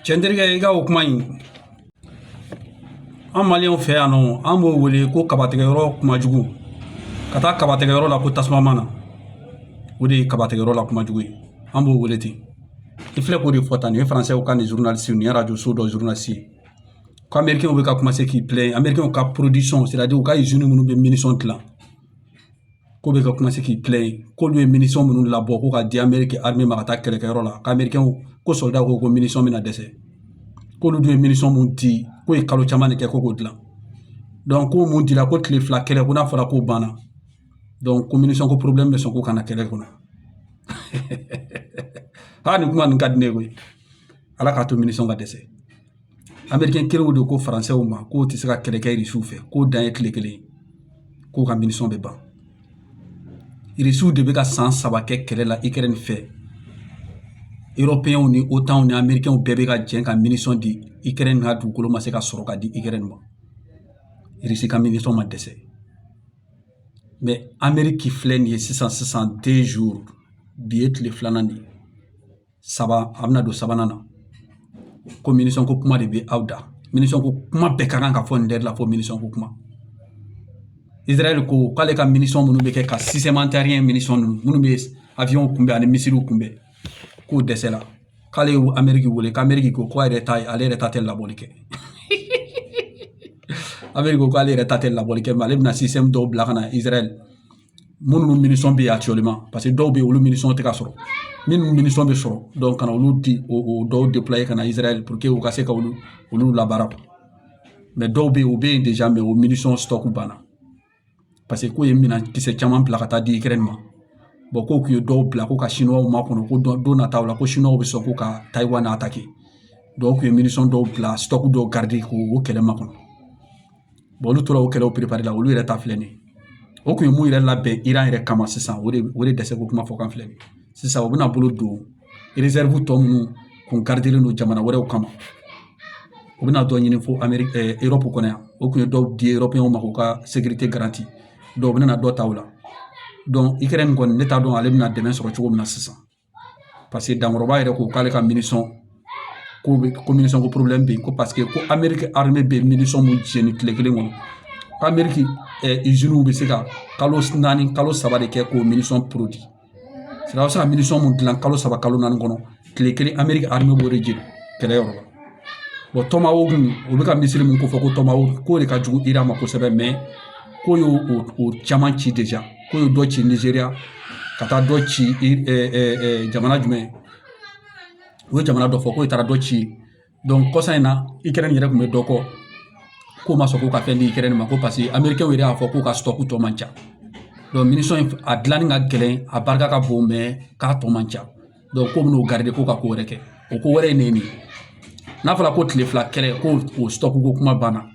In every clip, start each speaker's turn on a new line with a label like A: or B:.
A: cɛnterikɛ i ka o kuma in an maliyɛnw fɛ yan nɔ an b'o wele ko kabatigɛyɔrɔ kuma jugu ka taa kabatigɛyɔrɔ la ko tasuma mana o de ye kabatigɛyɔrɔ la kuma jugu ye an b'o wele ten i filɛ k'o de fɔ tan nin ye faransɛw ka nin zurunalisi nin ye arajo so dɔ zurunalisi ye ko amerikɛnw bɛ ka komanse k'i pilɛn amerikɛnw ka porodisɔn sɛtadiri u ka izini minnu bɛ minisɔn dilan k'u bɛ ka komanse k'i pilɛn k'olu ye minisɔn minnu labɔ ko ka di amerikɛn arime ma ka taa kɛlɛkɛyɔrɔ la k'amerikɛnw ko sɔrɔda ko ko minisɔn bɛna dɛsɛ k'olu dun ye minisɔn mun di k'o ye kalo caman de kɛ ko k'o dilan ko mun dira ko tile fila kɛlɛ ko n'a fɔra k'o banna ko minisɔnko pɔrɔbilɛmu bɛ sɔn ko ka na kɛlɛ kɔnɔ aa nin kuma nin ka di ne ye koyi ala k'a to minisɔn ka dɛsɛ amerikɛn kelenw de ko faransɛw ma k'u tɛ se ka kɛlɛ kɛ irisiw fɛ k'u dan ye tile kelen k'u ka minisɔn bɛ ban irisiw de bɛ ka san saba kɛ kɛlɛ la ikɛrɛni fɛ erɔpeyɛnw ni otanw ni amerikɛnw bɛɛ bɛ ka jɛ ka minisɔn di ikɛrɛni ka dugukolo ma se ka sɔrɔ ka di ikɛrɛni ma irisi ka minisɔn ma dɛsɛ mɛ ameriki filɛ nin ye sisan sisan de zuru bi ye tile filanan de ye saba a bɛna don sabanan na ko minisɔnko kuma de bɛ aw da minisɔnko kuma bɛɛ ka kan ka fɔ nin de la fo minisɔnko kuma israɛl ko k'ale ka minisɔn minnu bɛ kɛ ka sisɛm antiayeriyɛn minisɔn ninnu minnu bɛ awiyɔn kunbɛn ani misiliw kunbɛn k'o dɛsɛla k'ale ye ameriki wele k'ameriki ko ko a yɛrɛ ta ye ale yɛrɛ ta tɛ labɔli kɛ ameriki ko k'ale yɛrɛ ta tɛ labɔli kɛ mɛ ale bɛna sisɛm dɔw bila ka na israɛl minnu minisɔn bɛ yen akitiyɛlima paseke dɔw bɛ yen olu minisɔn tɛ ka sɔrɔ minnu minisɔn bɛ sɔrɔ ka na olu di o dɔw depuluwaye ka na israɛl puruke u ka se ka olu olu labaara dɔw bɛ yen u bɛ yen deza mɛ o minisɔn sitɔki banna paseke k'u ye minɛn kisɛ caman bila ka taa di ikɛrɛn ma ko k'u ye dɔw bila ko ka siniwaw makɔnɔ ko don nataw la ko siniwaw bɛ sɔn ko ka tayiwani atake dɔnki k'u ye minisɔn dɔw bila sitɔki dɔw garide k'o kɛlɛ makɔnɔ olu tora o kɛlɛw perepare la olu yɛrɛ ta filɛ nin ye o kun ye mun yɛrɛ labɛn iran yɛrɛ kama sisan o de o de dɛsɛko kuma fɔ kan filɛ nin ye sisan u bɛna bolo don rezɛrivu tɔ minnu kun garidelen don jamana wɛrɛw kama u bɛna dɔ ɲini fo ameri erɔpu kɔnɔ yan o kun ye dɔw di erɔpeyɛnw ma k'u ka sekirite garanti dɔnki u bɛna dɔ ta o la ikɛrɛni kɔni ne t'a dɔn ale bɛna dɛmɛ sɔrɔ cogo min na sisan paseke dankɔrɔba yɛrɛ ko k'ale ka minisɔn ko bɛ ko minisɔnko pɔrɔbilɛmu bɛ yen ko paseke ko amerikɛn arime bɛ minisɔn mun jeni tile kelen kɔnɔ k'ameriki izini bɛ se ka kalo naani kalo saba de kɛ k'o minisɔn porodi sɛtadiri bɛ se ka minisɔn mun dilan kalo saba kalo naani kɔnɔ tile kelen amerikɛn arime b'o de jeni kɛlɛyɔrɔ la o tomawoki o bɛ ka misili min ko fɔ ko tomawoki o de ka jugu iran ma kosɛbɛ k'o y'o o caman ci k'o ye dɔ ci nizeriya ka taa dɔ ci jamana jumɛn u ye jamana dɔ fɔ k'o taara dɔ ci donc kɔsa in na ukrɛni yɛrɛ tun bɛ dɔ kɔ k'o ma sɔn k'u ka fɛn di ukrɛni ma ko paseke amerikɛnw yɛrɛ y'a fɔ k'u ka sitɔku tɔ man ca minisɔn in a dilanni ka gɛlɛn a barika ka bon mɛ k'a tɔ man ca k'o bɛn'o garidi k'o ka ko wɛrɛ kɛ o ko wɛrɛ ye nin de ye n'a fɔra ko tile fila kɛlɛ k'o sitɔku ko kuma banna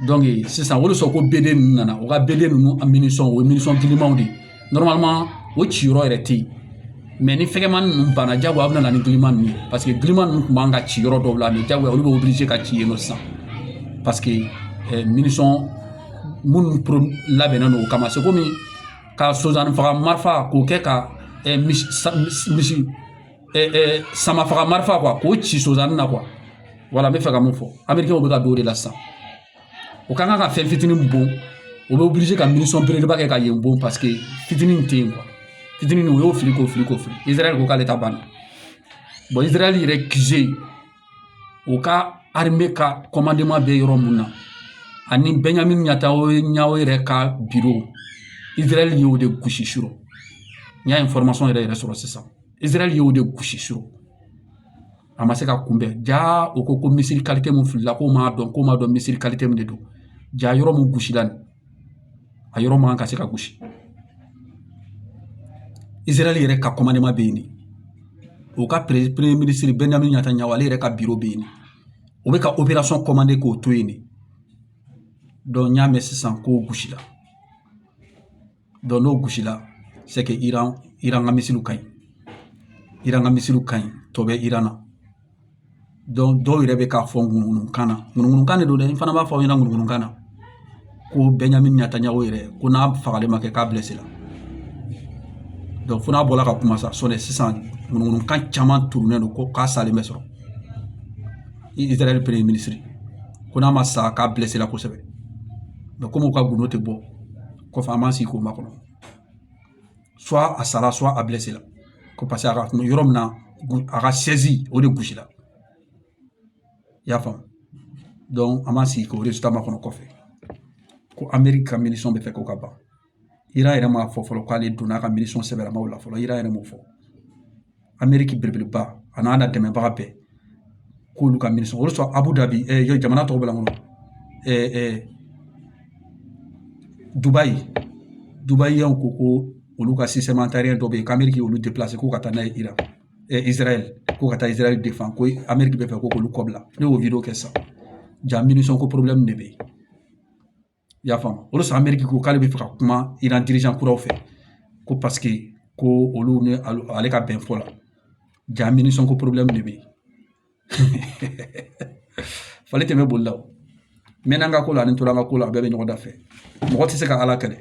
A: donc sisan o de sɔrɔ ko bede ninnu nana u ka bede ninnu a minisɔn o ye minisɔn gilimanw de ye o ci yɔrɔ yɛrɛ tɛ yen mɛ ni fɛgɛmani ninnu banna jagoya a bɛ na ni giliman ninnu ye paseke giliman ninnu tun man kan ka ci yɔrɔ dɔw la mɛ jagoya olu bɛ obligé ka ci yen nɔ sisan paseke minisɔn minnu labɛnnen don o kama se komi ka sonsannin faga marifa k'o kɛ ka misi misi sama faga marifa k'o ci sonsannin na wala n bɛ fɛ ka mun fɔ amerikɛnw bɛ ka don o de la sisan o ka kan ka fɛn fitinin bon o bɛ obligé ka minisɔn belebeleba kɛ ka yen bon paseke fitinin tɛ yen fitinin o y'o fili k'o fili k'o fili izarayɛli ko k'ale ta banna izarayɛli yɛrɛ QG u ka arime ka kɔmandeman bɛ yɔrɔ min na ani bɛnjamin netanyahu yɛrɛ ka biro israɛl y'o de gosi suru n y'a information yɛrɛ yɛrɛ sɔrɔ sisan israɛl y'o de gosi suru a ma se ka kunbɛn ja o ko ko misili kalite min filila k'o m'a dɔn k'o m'a dɔn misili kalite min de don ja yɔrɔ min gosila nin a yɔrɔ man kan ka se ka gosi izarahɛli yɛrɛ ka kɔmandeman bɛ yen de o ka premier minisiri bɛnjamin netanyahu ale yɛrɛ ka biro bɛ yen o bɛ ka operasiyɔn kɔmande k'o to yen de donc n y'a mɛn sisan k'o gosila donc n'o gosila c'est que iran ka misiliw ka ɲi iran ka misiliw ka ɲi tɔ bɛ iran na dɔw yɛrɛ bɛ k'a fɔ ŋunuŋunukan na ŋunuŋunukan de don dɛ n fana b'a fɔ aw ɲɛna ŋunuŋunukan na ko bɛnjamin netanyahu yɛrɛ ko n'a fagalen ma kɛ k'a bilesela donc fo n'a bɔra ka kuma sa sɔni sisan ŋunuŋunukan caman turulen don ko k'a salen bɛ sɔrɔ israɛl premier minisiri ko n'a ma sa k'a bilesela kosɛbɛ komi u ka gundo tɛ bɔ kɔfɛ an b'an sigi k'o makɔnɔ a sara soit a bilesela ko parce que a ka kun yɔrɔ min na a ka chaise o de gosila i y'a faamu donc an b'an sigi k'o résultat makɔnɔ kɔfɛ ko ameriki ka minisɔn bɛ fɛ k'o ka ban iran yɛrɛ m'a fɔ fɔlɔ k'ale donna a ka minisɔn sɛbɛlamaw la fɔlɔ iran yɛrɛ m'o fɔ an miiriki belebeleba a n'a na dɛmɛbaga bɛɛ k'olu ka miiri sɔrɔ o sɔrɔ a b'u dabi jamana tɔw bɛ yan dubayi dubayi yan ko ko olu ka dɔ bɛ yen k'an bɛ k'i olu ko ka taa n'a ye i la ko ka taa izarayɛli de fan ko an bɛ k'i bɛ fɛ k'olu kɔ bila ne y'o kɛ sisan ja minisɔn ko de bɛ yen i y'a faamu o de sɔrɔ mɛriki ko k'ale bɛ fɛ ka kuma iran dirigeant kuraw fɛ ko paseke ko olu ni ale ka bɛn fɔ la ja munition ko problème de bɛ yen fali tɛ bɛ boli la o mɛn an ka ko la ani tora an ka ko la a bɛɛ bɛ ɲɔgɔn da fɛ mɔgɔ tɛ se ka ala kɛlɛ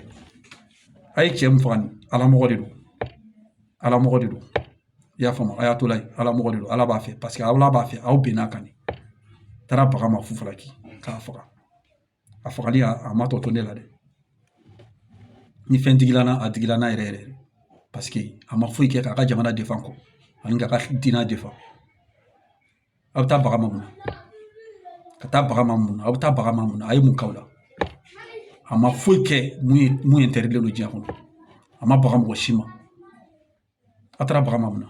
A: a ye cɛ min faga nin ala mɔgɔ de don ala mɔgɔ de don i y'a faamu a y'a to la ala mɔgɔ de don ala b'a fɛ paseke ala b'a fɛ aw bɛnn'a kan de taara baga ma fu falaki k'a faga a fagali a ma tɔ to ne la dɛ ni fɛn digila n na a digila n na yɛrɛ yɛrɛ paseke a ma foyi kɛ k'a ka jamana défend kɔ ani k'a ka diinɛ défend a bɛ taa baga ma mun na ka taa baga ma mun na a bɛ taa baga ma mun na a ye mun k'aw la a ma foyi kɛ min interdilen don diɲɛ kɔnɔ a ma baga mɔgɔ si ma a taara baga ma mun na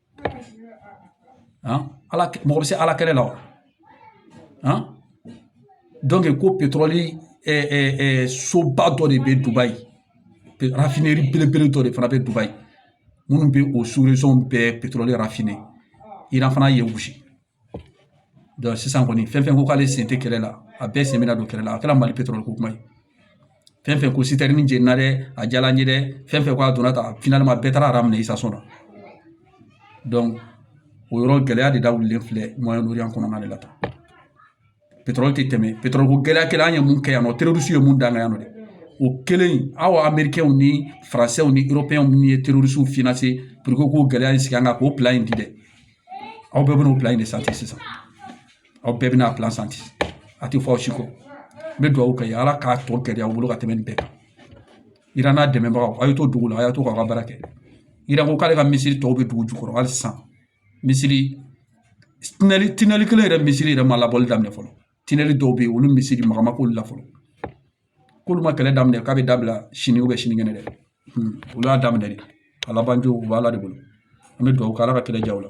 A: ala mɔgɔ bɛ se ala kɛlɛ la wa donc ko petɔrɔli soba dɔ de bɛ dubayi raffinerie belebele dɔ de fana bɛ dubayi minnu bɛ o sous région bɛɛ petɔrɔli raffiné iran fana ye gosi sisan kɔni fɛn fɛn ko k'ale sen tɛ kɛlɛ la a bɛɛ sen bɛna don kɛlɛ la a kɛra mali petɔrɔli ko kuma ye fɛn fɛn ko citerne jenina dɛ a diyara n ye dɛ fɛn fɛn ko a donna tan finalement bɛɛ taara rang minɛ station na donc o yɔrɔ gɛlɛya de da wulilen filɛ moyen orient kɔnɔna de la tan petrol tɛ tɛmɛ petrol ko gɛlɛya kɛra an ye mun kɛ yan nɔ terroriste ye mun da an kan yan nɔ dɛ o kɛlen aw amerikɛnw ni faransɛw ni eropɛnw minnu ye terroristew financé puruke k'o gɛlɛya in sigi an kan k'o plan in di dɛ aw bɛɛ bɛn'o plan in de santi sisan aw bɛɛ bɛna plan santi a tɛ fɔ aw si kɔ n bɛ dugawu kɛ ala k'a tɔ gɛlɛya aw bolo ka tɛmɛ nin bɛɛ kan iran n'a dɛmɛbagaw aw ye to dugu la a y'a to k'aw ka baara kɛ iran ko k'ale ka misili tɔw bɛ dugu jukɔrɔ hali sisan misili tinɛli kelen yɛrɛ misili yɛrɛ ma labɔli daminɛ fɔlɔ tinɛli dɔw bɛ yen olu misili maga ma k'olu la fɔlɔ k'olu ma kɛlɛ daminɛ k'a bɛ dabila sini sinikɛnɛ dɛ olu y'a daminɛ de a labancogo o b'ala de bolo an bɛ dugawu kɛ ala ka kɛlɛ diya u la